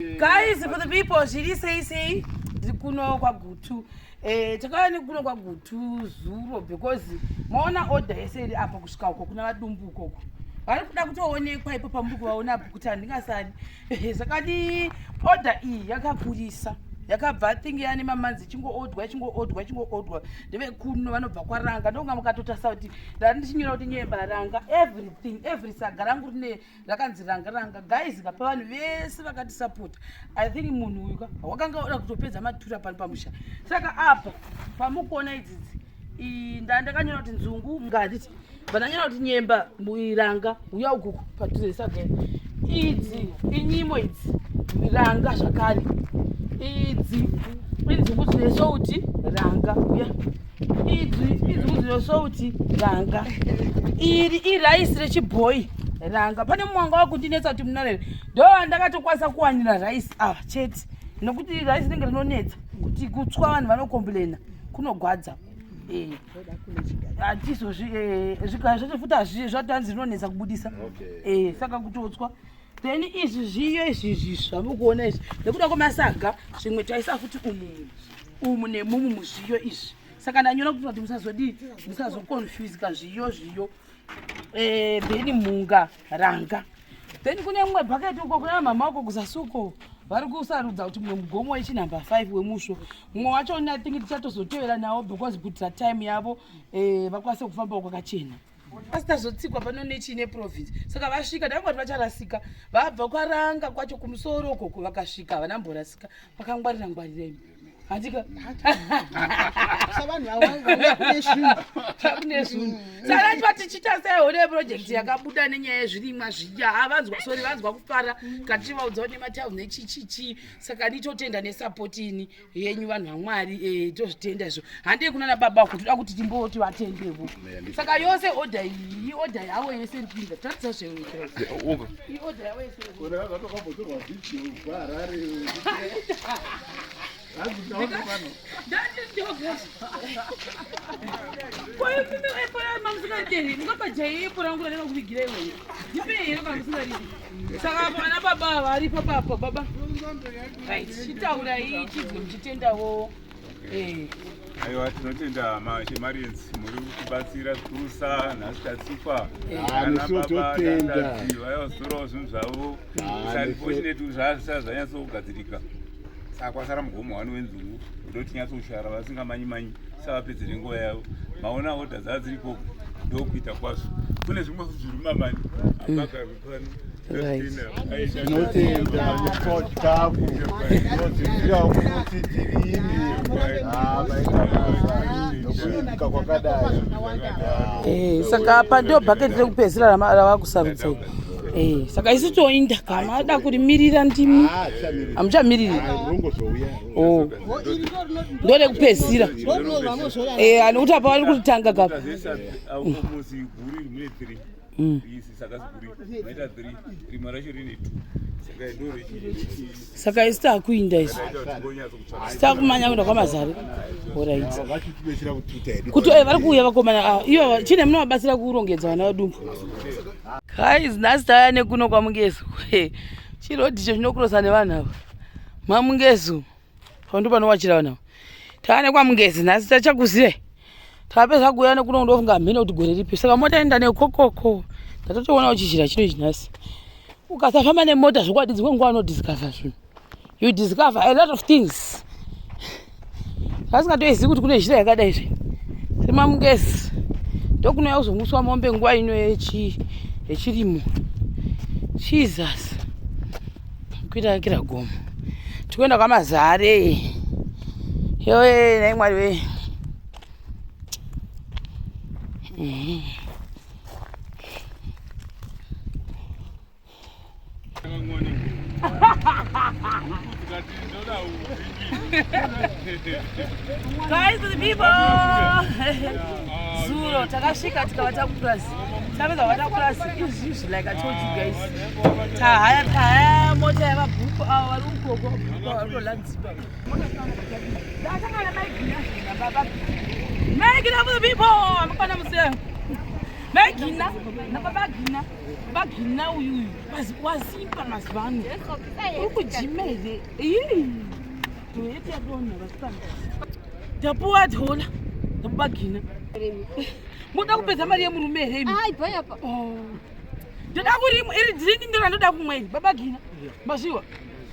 guys for the people zviri sei sei ndiri kuno kwagutu eh, takauya nekuno kwagutu zuro because maona order yese iri apa kusvika uko kuna vadumbu ukoko vari kuda kutoonekwa ipo pambuku vaona apo kuti handingasani eh, zvakadi order iyi yakakurisa yakabva thingi yani mamanzi chingoodwa chingoodwa chingoodwa ndevekuno vanobva kwaranga ndonga mukatotarisa kuti ndari ndichinyora kuti nyemba ranga everything every saga rangu rine rakanzi ranga ranga guys ngapa vanhu vese vakatisapota i think munhu uyu ka wakanga oda kutopedza matura pano pamusha saka apa pamukuona idzidzi nda ndakanyora kuti nzungu ngaditi vandanyora kuti nyemba iranga uya ukuku paturesagere idzi inyimo idzi ranga zvakare idzi inzungu dzine souti ranga uya yeah. idzwi idzwi kuziroso kuti ranga iri iraisi rechibhoyi ranga pane mumwe wanga wakundinetsa kuti munarere ndo ndakatokwanisa kuwanira raisi ava ah, chete nokuti raisi rinenge rinonetsa kuti kutswa vanhu vanokomplaina kunogwadza eh. hatizozvi eh, zvigaa zvacho futi hazvi zvatanzi rinonetsa kubudisa eh, saka kutotswa then izvi zviyo izvi zvisva mukuona izvi nekuda kwemasaga zvimwe taisa futi umumu umu nemumu muzviyo izvi saka ndanyora kuitira kuti musazodii musazokonfuzika zviyo zviyo eh, then mhunga ranga then kune mumwe bhaketi uko kuna mama uko kuzasuko vari kusarudza kuti mumwe mugomo wechinumber five wemusvo mumwe wacho nathing tichatozotevera nawo because kuitira time yavo eh, vakwanise kufambawo kwakachena pasita zotsikwa pano nechii neprovince saka vasvika dai vati vacharasika vabva kwaranga kwacho kumusoro ukoko vakasvika havana mborasika vakangwarira ngwarira imi handika kune zvinhu saka chiva tichiita sei hone project yakabuda nenyaya yezvirimwa zviya havanzwa sori vanzwa kufara katichivaudza nematau nechichichii saka nditotenda nesapoti ini yenyu vanhu vamwari eh, tozvitenda izvo handei kuna nababa wako toda kuti timboti vatendevo saka yose oda iyi ioda yavo yese ndipinda tatisa zveioda yavo yesekoimunoepoa mamusingaitei mukabajaiepora nguraneva kuvigira iweyo ndipei here mamusingarii Saka vana baba varipo papo baba. Right. Chitaura iyi chizwe muchitendawo. Eh. Aiwa tinotenda Marians muri kutibatsira zvikurusa nhasi tatsipa ana baba tandadzi vaivazotorawo zvinhu zvavo. It's unfortunate kuti zvazvisazvanyatso kugadzirika. saka kwasara mugomo wani wenzungu kuda kuti nyatsoshara vasingamanyi manyi savapedze nenguva yavo maona oda dzava dziri koko ndokuita kwazvo kune zvimwe zviri mamani apagaepano saka apa ndio bhaketi rekupedzisira ravakusarudza Eh, saka isu toinda kama ada kurimirira ndimi hamuchamiriri ah, oh. ndode kupedzisira eh, anokuti apa vari kutanga kapa mm. saka isi takuinda izvo sitakumanya kuenda kwamazari orit kuti eh, vari kuuya vakomana ava ah, ivo chine munovabatsira kurongedza vana vadumbu guys nhasi taya nekuno kwamungezo chirodhicho chinokurosa nevanhu ava mamungezo pandu panowachira vanhu ava taya nekwamungezi nhasi tachakuzive tapedza kuuya nekuno ndofunga hamhina kuti gore ripi saka mota enda nekokoko ndatotoona uchizhira chino ichi nhasi ukasafamba nemota zvokwadi dzimwe nguva unodiscover zvinhu you discover a lot of things vasingatoizivi kuti kune zhira yakadai zve semamungezi ndokunouya kuzomuswa mombe nguva ino yechirimo jesus kuita kakira gomo tikuenda kwamazare yoe nai mwari wee mm-hmm. Guys, the people. Zuro takasvika tikava takupurazi. Tapedza kuva takupurazi izvi izvi like I told you guys. Tahaya tahaya mota yava bhuku avo vari ukoko bhuku vari kulanzipa. Megina for the people. Amafana museo. Megina. Nababa gina. Baba gina uyu uyu. wasimba mazuva ano uri kujima here toyeti yadonha vasikana ndapuwa adhola ndapuwa gina moda kupedza mari yemurume here oh. ndoda kuri iri dringi ndona ndoda kumweni baba gina mazviwa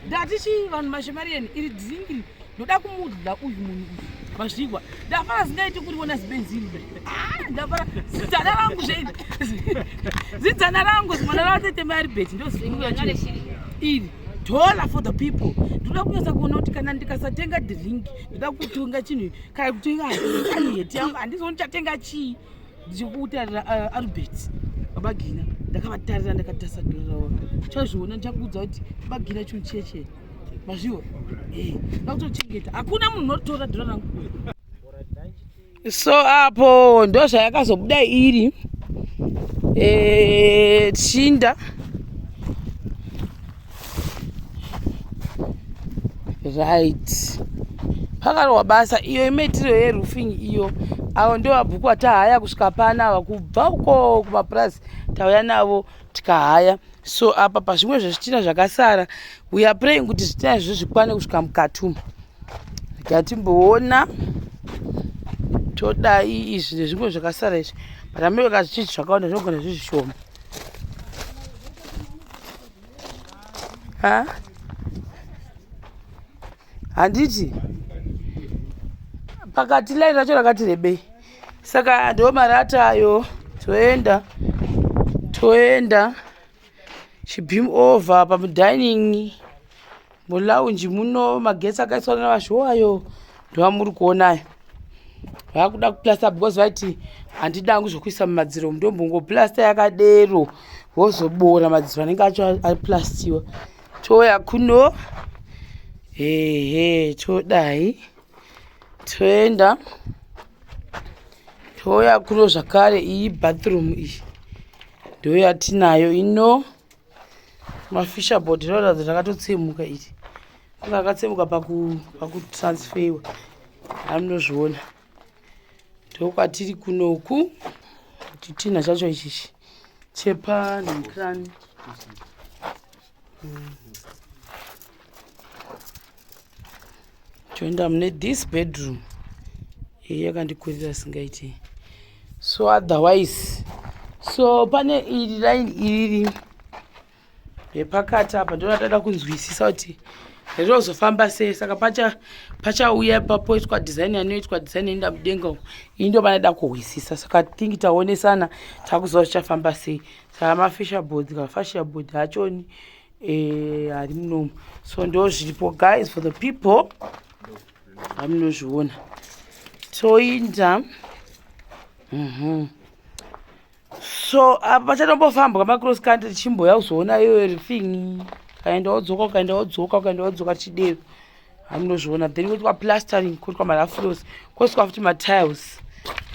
ndati chii vanhu mashemari yeni iri dringi ndoda kumudya uyu munhu uyu mazvigwa ndafara zingaiti kuri wona zibenzini ah, ndafara zidzana rangu zveidi zidzana rangu zimwana ravatete mai ribeti ndoziuya iri dollar for the people ndoda kunyatsa kuona kuti kana ndikasatenga drink ndoda kutonga chinhu kana kutenga heti yangu handizoni chatenga chii ndichikutarira uh, albert babagina ndakavatarira ndakatasa doro ravo chazviona ndichakuudza kuti babagina chinhu chiye chee mazviwa eh, ndakutochengeta hakuna munhu unotora doro rangu so apo ndo zvayakazobuda iri eh, tshinda right pakarohwa basa iyo imaitiro yeroofing iyo avo ndo vabhuku atahaya kusvika pana ava kubva uko kumapurazi tauya navo tikahaya so apa pazvimwe zvezvitina zvakasara weare praying kuti zvitina izvi zvikwane kusvika mukati umu gatimboona todai izvi nezvimwe zvakasara izvi but ameweka zvichii zvakawanda zvinogona zvizvishoma ha handiti pakati laini racho rakati rebei saka ndo marata ayo toenda toenda chibim over pamudining mulaunji muno magetsi akaiswa navashowo ayo ndovamuri kuona ayo vakuda kuplasta because vaiti handidi angu zvokuisa mumadziro ndombongoplasta yakadero vozoboora madziro anenge acho aplastiwa touya kuno hehe todai toenda touya kuno zvakare iyi bathroom iyi ndoyatinayo ino mafisher board rinoratidza kuti rakatotsemuka iri anga akatsemuka pakutransfeiwa amunozviona ndokwatiri kunoku chitinha chacho ichichi chepa necran mm. toenda mune this bedroom iyi yakandikurira asingaiti so otherwise so pane iri line iri repakati apa ndonatata kunzwisisa kuti rinozofamba sei saka pacha pachauya papoitwa design anoitwa design enda mudenga uko ini ndo vanoda kuhwisisa saka thingi taonesana takuziva zvichafamba sei saka mafisher board kafasher board hachoni eh ari munomu so ndo zviripo guys for the people amunozviona toinda mhm so apa pachatombofambwa macross country tichimboya kuzoona iyo everything ukaenda wodzoka ukaenda wodzoka ukaenda wodzoka tichidero amunozviona then kotwa plastering kotwa marafros koswa futi matiles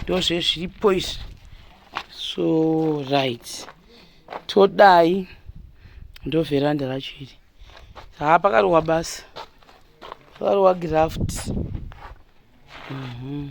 ndozvezviripo izvi so right todai ndo veranda racho iri haa pakarowa basa pakarowa graft mm -hmm.